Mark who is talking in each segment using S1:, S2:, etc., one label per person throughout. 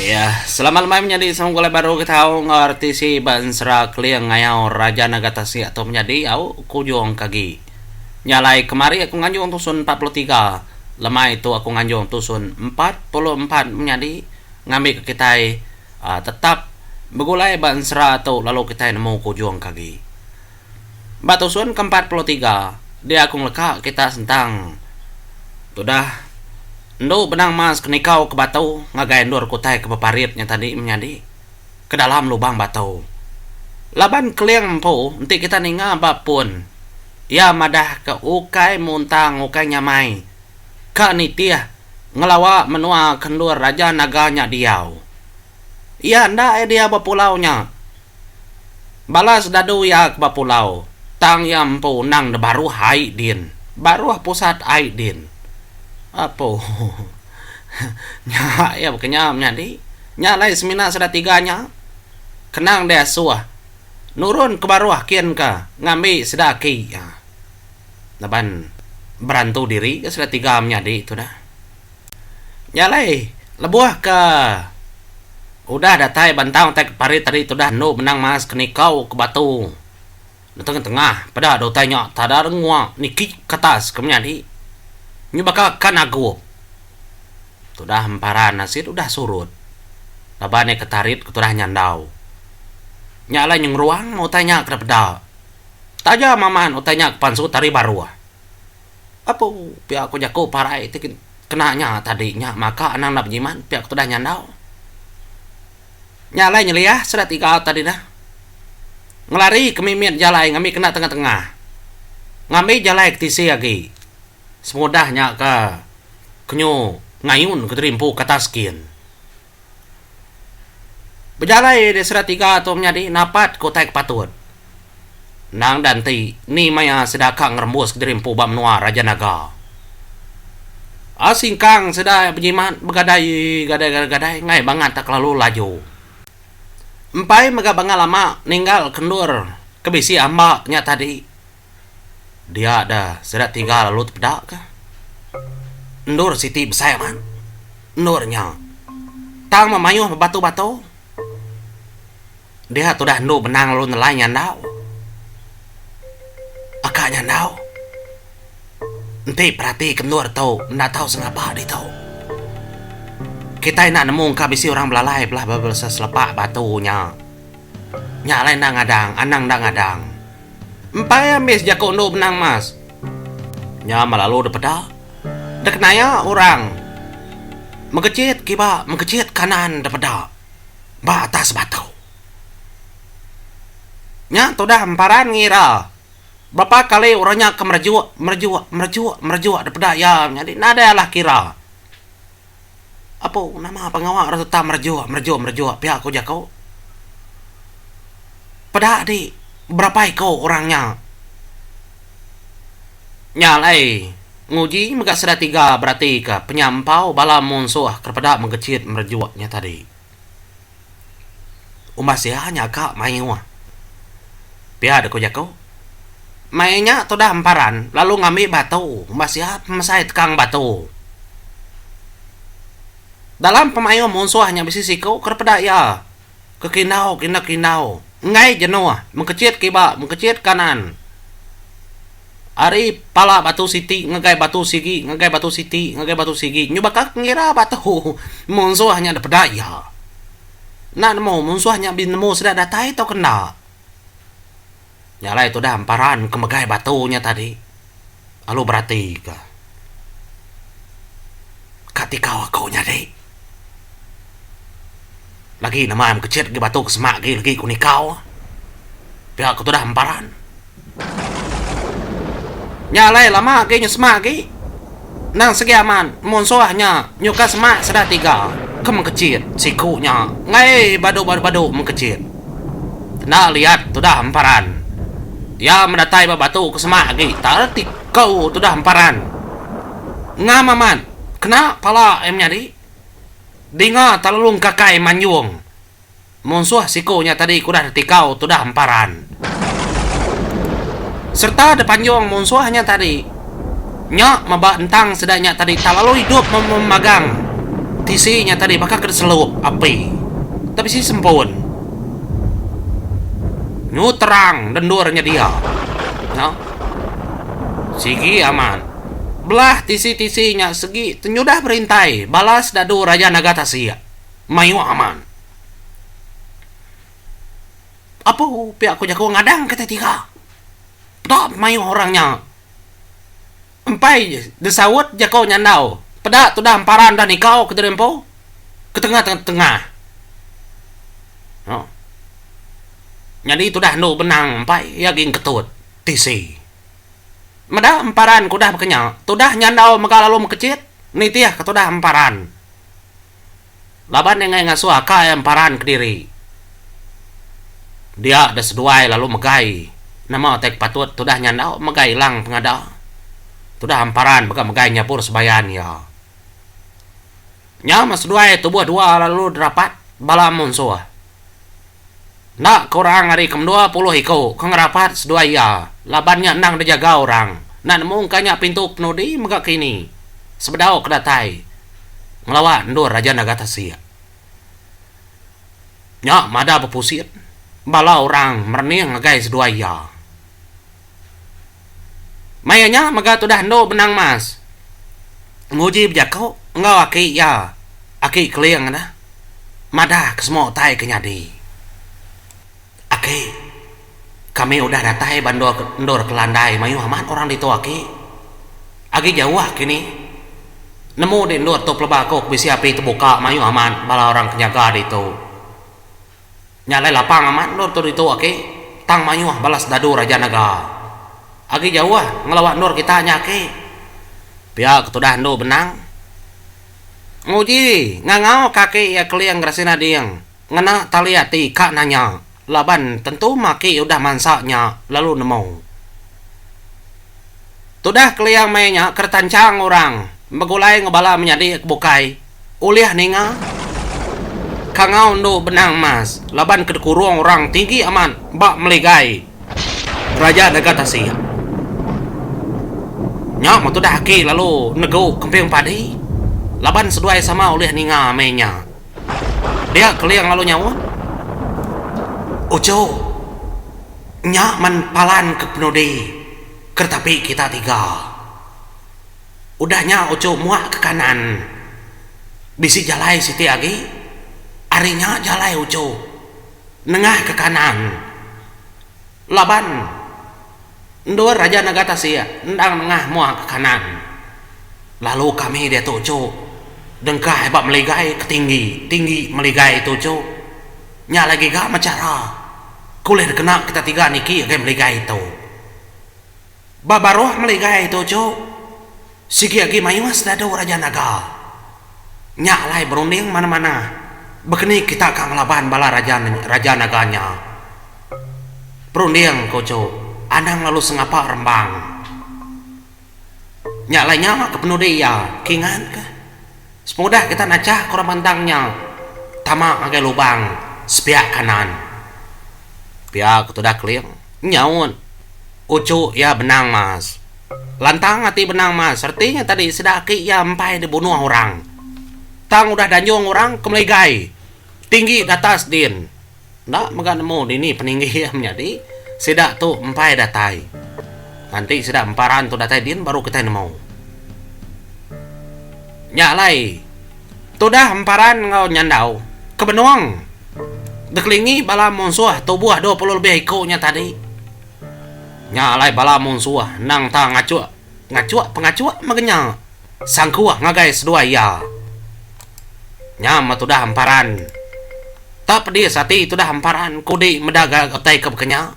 S1: Ya, selama lemai menyadi saung gulai baru ke tau enggau RTC ba ensera Keling ngayau Raja Naga Tasik tu menyadi au ke ujung ke agi. Nya alai kemari aku nganjung tusun empat puluh tiga, lemai tu aku nganjung tusun empat puluh empat menyadi ngambika kitai aaa tetap begulai ba ensera tu lalu kitai nemu ke ujung ke agi. Ba tusun ke empat puluh tiga, dia aku ngeleka kita sentang tudah endu benang mas ke nikau ke batu ngagai endur kutai ke beparit nya tadi menyadi ke dalam lubang batu. Laban keling empu enti kita ninga ba pun, iya madahka ukai muntang ukai nyamai ka nitih ngelawa menua ke endur Raja Naga nya diau. Iya enda idea bepulau nya. Balas dadu iya ke ba pulau, tang iya empu undang da baruh ai din, baruh pusat ai din. Apu. Nya iya baka nya menyadi. Nya alai semina sida tiga nya. Kenang deh asuh. Nurun ke baruh kin ka ngambi sida aki laban berantu diri ka sida tiga menyadi tu dah. Nya alai lebuh ke udah datai bentang utai ke parit ari tudah endu benang mas ke nikau ke batu netengah tengah peda dau utai nya tada rengua niki kertas ke menyadi nyu baka ka nagup tudah emparan asit udah surut laban iya ke tarit ke tudah nyandau nya alai nyengeruang utai nya ke dipeda taja maman utai nya ke pansu tari baruh. Apu, pia ku jaku parai ti kena nya tadi nya maka anang enda bejimat pia ku tudah nyandau. Nya alai nyeliah sida tiga tadi dah. Ngelari ke mimit jalai ngambi kena tengah-tengah. Ngambi jalai ke tisi agi. Semudah nya ke kenyu ngayun ke diri empu ke atas skin. Bejalai dek sida tiga tu menyadi napat ke utai ke patut. Endang enda enti ni maya sida ka ngerembus kediri empu ba menua Raja Naga. Asingkang sida bejimat begadai gadai gadai gadai enggai bangat tak kelalu laju. Empai mega bangat lama ninggal ke endur ke bisi amba nya tadi. Dia da sida tiga lalu tepeda ka. Endur siti besai amat. Endur nya tang memayuh bebatu-batu. Dia tudah endur benang lalu nelai nyandau. Aka nyandau enti peratika endur tu enda tau sengapa ditu. Kitai enda nemu engka bisi orang belalai belah bebesa selepa batu nya. Nya alai enda ngadang, anang enda ngadang. Empai ambis jaku endu benang emas. Nya melalu depeda. Dekenaya orang mengechit kiba mengechit kanan depeda ba atas batu. Nya tudah emparan ngira berapa kali orang nya ke merejuk, merejuk, merejuk, merejuk depeda iya nyadi nadai alah kira. Apu, nama pengawa ra tetap merajuk, merajuk, merajuk pia ku jaku. Peda di berapa iku orang nya nya alai nguji mega sida tiga beratika penyampau bala munsuh ke peda mengechit merajuk nya tadi. Umbah sia nyaga mayuh. Pia deka jaku. Mai nya tudah emparan lalu ngambi batu umbah sia pemesai tekang batu. Dalam pemayuh munsuh nya bisi siku ke dipeda iya ke kindau ke indau-kindau. enggai jenuh mengkechit kiba mengkechit kanan ari pala batu siti ngagai batu sigi ngagai batu siti ngagai batu sigi nyubaka pengira batu munsuh nya dipeda iya enda nemu munsuh nya be nemu sida datai tauka enda nya alai tudah emparan ke megai batu nya tadi. Lalu berati ka. Ka tikau aku nyadi. Lagi nama mekecit agi batu ke semak agi lagi ku nikau. Pia aku tudah memparan. Nya alai lama agi nyu semak agi. Endang sigi amat munsuh nya nyuka semak sida tiga ke mekecit siku nya enggai badu-badu mekecit. Enda liat tudah emparan. Iya medatai ba batu ke semak agi taal ti ko tudah emparan. Ngam amat kena pala iya menyadi. Dinga Talulung Kakai manjung. Munsuh siku nya tadi ke udah reti ko tudah emparan. Serta depanjung munsuh nya tadi. Nya meba entang sida nya tadi tak lalu idup memagang tisi nya tadi baka ke diselup api ke bisi sempun nyu terang da endur nya dia nya sigi amat belah tisi-tisi nya segi tenyudah berintai bala sida du raja naga tasik mayuh amat apu pia ku jaku ngadang ke ti tiga peda mayuh orang nya. Empai desaut jako nyandau. Peda tudah emparan dah nikau ke diri empu ke tenga tengah. Nyadi tudah endu benang empai iya agi engketut tisi. Meda emparan ke udah baka nya tudah nyandau mega lalu mekecit nitih ke tudah emparan. laban enggai ngasuh aka iya emparan kediri. Dia deh seduai lalu megai nama utai ke patut tudah nya enda megai ilang pengada tudah emparan mega megai nyabur sebayan iya. Nya meh seduai tubuh dua lalu derapat bala munsuh. Enda kurang ari ke mendua puluh iku ke ngerapat seduai iya laban nya endang dijaga orang enda nemu engka nya pintu kenudi mega kini sebedau ke datai ngelawa endur Raja Naga Tasik nya madah bepusit bala orang merening ngagai seduai iya. Maya nya mega tudah endu benang mas nguji bejaku enggau aki iya, Aki Keling dah madah ke semua utai ke nyadi. Aki, kami udah datai ba endur endur Kelandai mayuh amat orang ditu aki. Agi jauh kini nemu di endur tu pelaba aku ke bisi api tebuka mayuh amat bala orang ke nyaga ditu. Nya alai lapang amat endor tu ditu aki, tang mayuh balas dadu raja naga. Agi jauh ngelawa endor kita nya aki. Pia ke tudah endu benang. Nguji ngangau ka aki iya keling gerasin ading ngena tali ati ka nanya laban tentu maki udah mansa nya lalu nemu. Tudah keling meh nya kera tanchang orang begulai ngebala menyadi ke bukai Ulih ninga kangau endu benang emas laban ke dikurung orang tinggi amat ba meligai raja deka tasik. Nya meh tudah aki lalu negu kemping padi laban seduai sama ulih ninga meh nya. Dia Keling lalu nyaut, Uchu, nya men palan ke penudi keretapi kita tiga. Udah nya uchu muak ke kanan bisi jalai siti agi ari nya jalai uchu nengah ke kanan laban endur aja naga tasik endang nengah muak ke kanan lalu kami diatu uchu dengkah ba meligai ke tinggi tinggi meligai tu uchu nya alai giga mechara ke ulih dikena kita tiga niki agai meligai tu. Ba baruh meligai tu cu, sigi agi mayuh sedadu raja naga. Nya alai berunding manah-manah bekeni kita ka ngelaban bala raja raja naga nya. Berunding ku cu, anang lalu sengapa rembang. Nya alai nya ke penudi iya, kingan kah? Semudah kita najah ke orang bandang nya tama ngagai lubang sepiak kanan pia ke tudah keling nyaut uchu iya benang mas. Lantang ati benang mas reti nya tadi sida aki iya empai dibunuh orang tang udah danjung orang ke meligai tinggi ke atas din. Enda mega nemu dini peninggi iya menyadi sida tu empai datai. Nganti sida empai ran tu datai din baru kitai nemu. Nya alai tudah empai ran enggau nyandau ke benung dikelingi bala munsuh tubuh dua puluh lebih iku nya tadi. Nya alai bala munsuh endang ta ngachuk. Pengachuk pengachuk mega nya sangkuh ngagai seduai iya. Nya meh tudah emparan. Tak pedis ati tudah emparan kudi meda ga utai ke baka nya.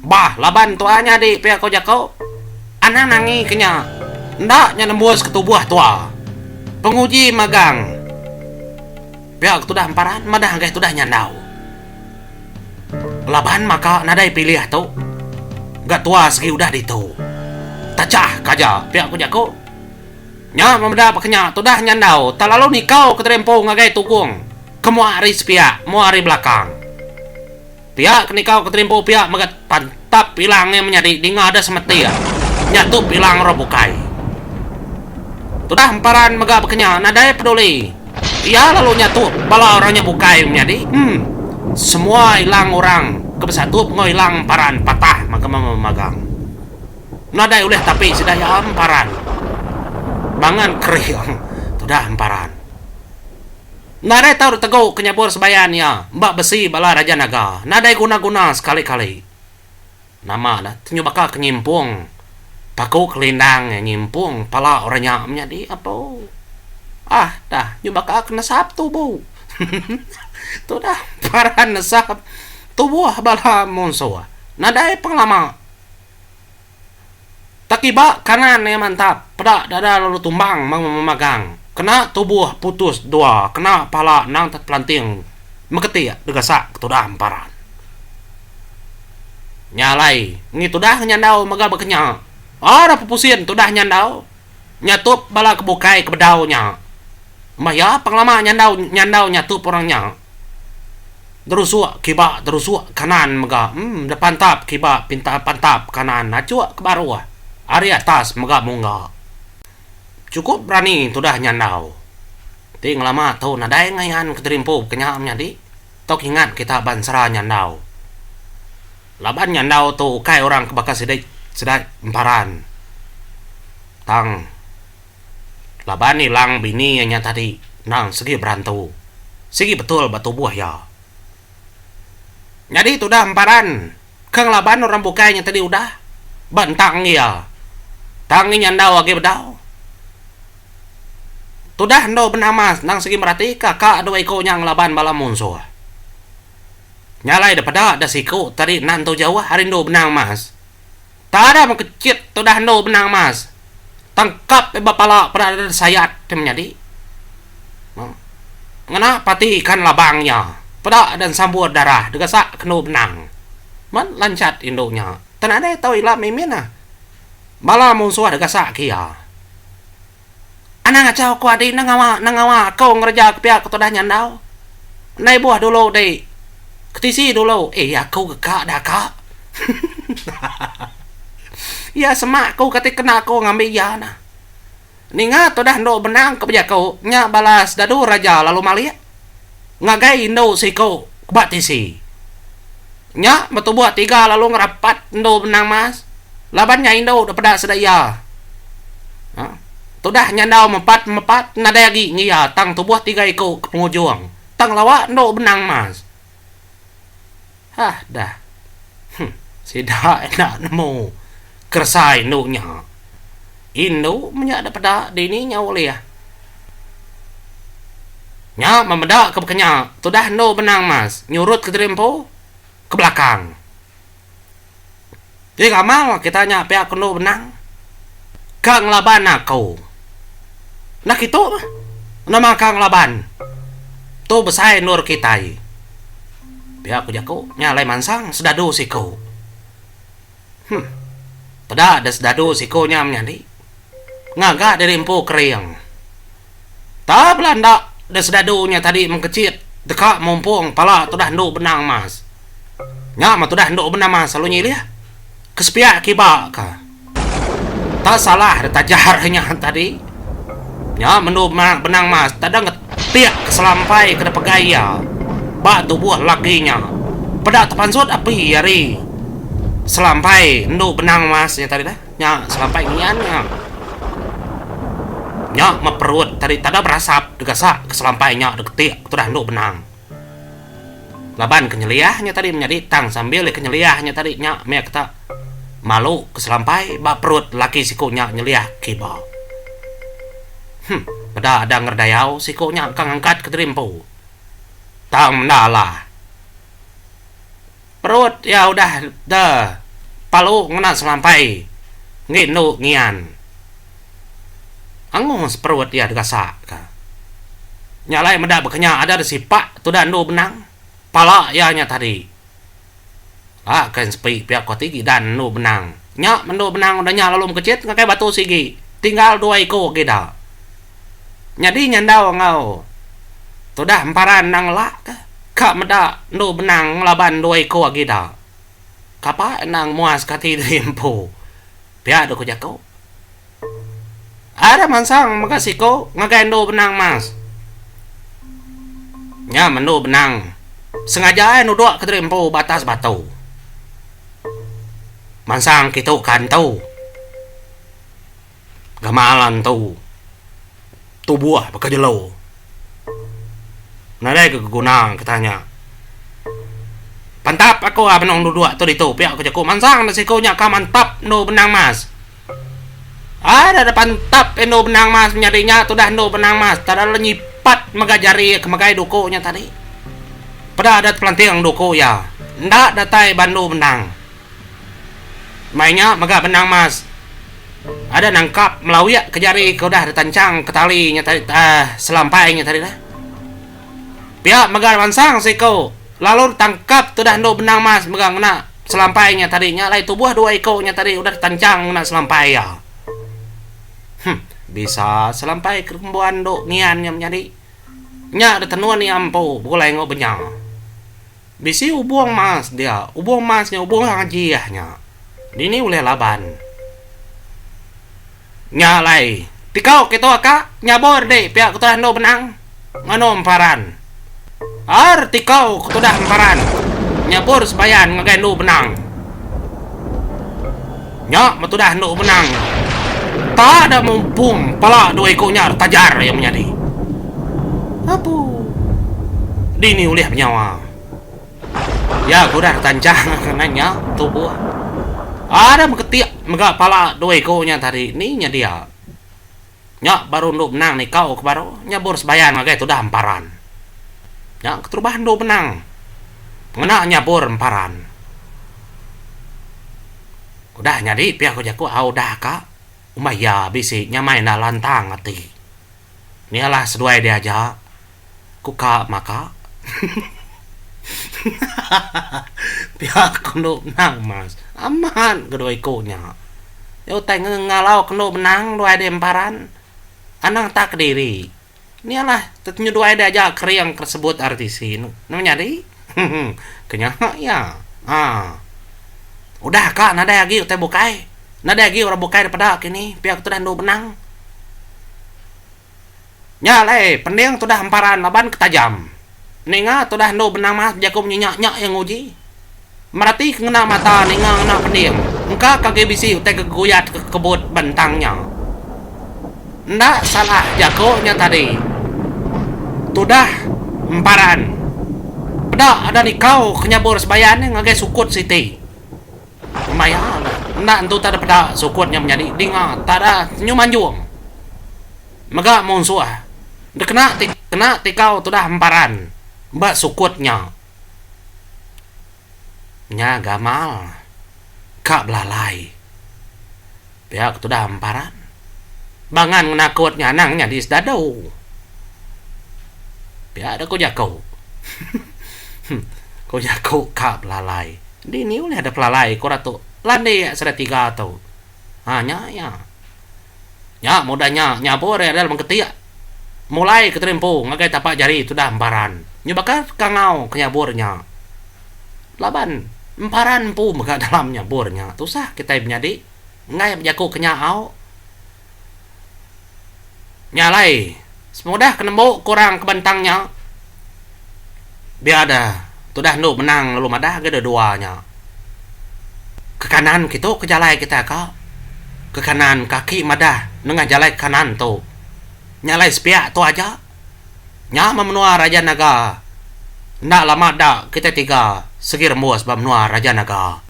S1: Bah laban tua nyadi pia ko jako. Anang angi ke nya. Enda nya nembus ke tubuh tua. Penguji magang. Pia ke tudah emparan madah ngagai tudah nyandau. Laban maka nadai pilih tu ga tua segi udah ditu. Tachah ka aja pia ku jaku. Nya memeda peka nya tudah nyandau telalu nikau ke terempu ngagai tukung ke mua ari sepiak mua ari belakang. Pia ke nikau ke terempu pia mega pan. Tap pilang nya menyadi ninga deh semetik. Nya tu pilang orang bukai. Tudah emparan mega bekenya nadai peduli. Iya lalu nya tu bala orang nya bukai menyadi. Em. Semua ilang orang ke besatup enggau ilang emparan patah magma memagang. Nadai ulih tapi sida iya emparan. Bangan kering tudah emparan. Nadai tau ditegu ke nyabur sebayan iya ba besi bala raja naga. Nadai guna-guna sekali-kali. Nama dah tenyu baka ke nyimpung paku kelindang iya nyimpung pala orang nya menyadi empu. Ah dah nyu baka ke nesap tubu. Tudah paran nesap tubuh bala munsuh. Nadai pengelama. Tetiba kanan iya mantap, peda dada lalu tumbang memagang. Kena tubuh putus dua, kena pala endang tepelanting meketik degasak ke tudah emparan. Nya alai, ngi tudah ngenyandau mega bekenya. Aduh pepusin tudah nyandau. nyatup bala ke bukai ke bedau nya. Meh iya pengelama nyandau nyandau nyatup orang nya. Derusuk kiba derusuk kanan mega em depantap kiba pinta pantap kanan nachuk ke baruh ari atas mega mungga. Chukup berani tudah nyandau. Ti ngelama tu nadai ngayan ke terimpu ke nya menyadi. tau kingat kita ba ensera nyandau. Laban nyandau tu ukai orang ke baka sida sida emparan tang laban ilang bini iya nya tadi endang sigi berantu sigi betul ba tubuh iya. Nyadi tudah emparan. Ke ngelaban orang bukai nyadi tadi udah ba entang iya. Tang inya endau agi bedau. Tudah endur benama senang sigi meratika ka dua iku nya ngelaban bala munsuh. Nya alai depeda da siku tadi nan tu jauh ari endur benang mas. Tadam ke chit tu dah endur benang mas. Tangkap deh ba pala peda deh disayat ti menyadi. Noh. Ngena pati ikan labang nya. Peda deh ensambur darah digasak ke endur benang. Meh lanchat indu nya. Tenadai tau ila mimin ah. Bala munsuh digasak ke iya. Anang acha uko adi enda ngawa enda ngawa ako ngereja ke pia ke tudah nyandau. Enda ibuh dulu di ke tisi dulu eh ako ke ka dah ka. Iya semak ko kati kena ko ngambi iya nah. Ninga tudah endu benang ke bejako nya balas dadu raja lalu malik. ngagai indu siku ba tisi. Nya betubuk tiga lalu ngerapat endu benang mas laban nya indu dek peda sida iya. Tudah nyandau mepat mepat nadai agi ngi iya tang tubuh tiga iku ke pengujung tang lawa endu benang mas. Hah dah. Huh. Sida enda nemu keresa indu nya. Indu menya da peda dini nya ulih. Nya memeda ke baka nya. Tudah endu benang mas nyurut ke diri empu ke belakang. Nya gamal kita nya pia ke endur benang ka ngelaban aku. Enda kitu meh nama ka ngelaban tu besai endur kitai. Pia ku jaku nya alai mansang sedadu siku. Huh peda deh sedadu siku nya menyadi ngaga diri empu kering. Ta bela enda deh sedadu nya tadi mengkechit deka mumpung pala tudah endu benang mas. Nya mah tudah endu benang mas lalu nyilih ke sepiak kiba ka. Ta salah deh tajar inya tadi. Nya mah endu benang mas tedang ke tik ke selampai ke dipegai iya ba tubuh lelaki nya. Peda tepansut api ari selampai endu benang mas nya tadi dah. Nya selampai ngian nya. Nya meh perut tadi tada berasap degasak ke selampai nya deketik tudah endu benang. Laban kenyeliah nya tadi menyadi tang sambil iya kenyeliah nya tadi nya meh kita malu ke selampai ba perut lelaki siku nya nyeliah kiba. Huh peda ada ngeredayau siku nya ka ngangkat kediri empu. Tang menda lah. Perut iya udah da palu ngena selampai enggi endu ngian. Angus perut iya degasak ka. Nya alai meda bekenya ada da sipak tuda endu benang pala iya nya tadi. Laka sepi pia ku ati gidan endu benang. Nya mendu benang udah nya lalu mekechit ngagai batu sigi tinggal dua iku agi ida nyadi nyandau enggau tudah emparan endang elak ke ka meda endu benang ngelaban dua iku agi ida kapai endang muaska ati diri empu pia deh ku jaku. Ari mansang mega siku ngagai endu benang mas. Nya mendu benang sengaja ai nuduk ke diri empu ba atas batu. Mansang kitu ka entu. Gamal entu tubuh baka jelo. Nadai ke guna kita nya. Pantap aku a benung duduk tu ditu pia ku jaku mansang da siku nya ka mantap endu benang mas. Ai dada pantap indu benang mas menyadi nya tudah indu benang mas dada lalu nyipat mega jari ke megai duku nya tadi peda adat pelanting duku iya enda datai ba indu benang mai nya mega benang mas ada nangkap melawik ke jari ke udah di tanchang ke tali nya tadi um selampai nya tadi lah pia mega mansang siko lalu tangkap tudah indu benang mas mega ngena Selampai nya tadi nya alai tubuh dua iko nya tadi udah tanchang ngena selampai iya. Huh bisa selampai kerembuan do ngian nya menyadi. Nya de tenun iya empu begulai enggau benya. Bisi ubung mas dia, ubung mas nya ubung ajiah nya. Dini ulih laban. Nya alai, tikau kitu ka nyabur di pia ketudah endu benang nganu emparan. Ar tikau ketudah emparan nyabur sebayan ngagai endu benang. Nya metudah endu benang tada mumpung pala dua iku nyar tajar iya menyadi. Apu. Dini ulih penyawa. Iya kurang tanjang ngenang nya tubuh. Ada meketik mega pala dua iku nya tadi ni nya dia. Nya baru endu benang nikau ke baru nyabur sebayan ngagai tudah emparan. Nya keterubah endu benang ngena nyabur emparan. Udah nyadi pia ku jaku au udah ka umai iya bisi nyamai enda lantang ati. Mia lah seduai dia aja ku ka maka. Pia kendu benang mas. Amat ke dua iku nya. Nya utai ngengalau kendu benang duai dia emparan. Anang tak kediri. Mia lah tetenyuduai dia aja kering ke sebut RTC. Nemu nyadi? Hehe. Ke nya iya. Haa. Udah ka nadai agi utai bukai. Nadai agi orang bukai dipeda kini pia ke tudah endu benang. Nya alai pending tudah emparan laban ke tajam. Ninga tudah endu benang mas bejaku munyi nya nya iya nguji. Merati ke ngena mata ninga ngena pending. Engka ke agi bisi utai ke geguyat ke kebut ba entang nya. Enda salah jaku nya tadi. Tudah emparan. Peda ada nikau ke nyabur sebayan nya ngagai sukut siti. Maya nya, enda entu utai depeda sukut nya menyadi dinga tada senyum anjung mega munsuh dikena kena tikau tudah emparan ba sukut nya. Nya gamal ka belalai. Pia ke tudah emparan. Bangan ngena kut nya anang nyadi sedadu. Pia deh ku jaku. ku jaku ka belalai. Dini ulih deh pelalai ku ratu landik sida tiga tu. Ha nya iya. Nya mudah nya nyabur iya dalam ketik. Mulai ke terimpu ngagai tapak jari tudah emparan. Nyubaka kangau ke nyabur nya. Laban emparan empu mega dalam nyabur nya. Tusah kitai menyadi. enggai bejaku ke nyau nya alai semudah ke nembu ke orang ke bentang nya biar deh tudah endu menang lalu madah agei deh dua nya ke kanan kitu ke jalai kita ka ke kanan kaki madah nengah jalai ke kanan tu nya alai sepiak tu aja. Nya meh menua Raja Naga. Enda lama da kitai tiga segi rembus ba menua Raja Naga.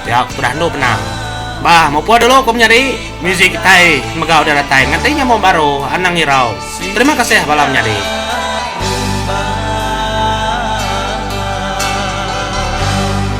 S1: Pia ku tudah endu benang. Bah mupun dulu ku menyadi. Muzik kitai mega udah datai ngati nyambung baru Anang Irau. Terima kasih bala menyadi.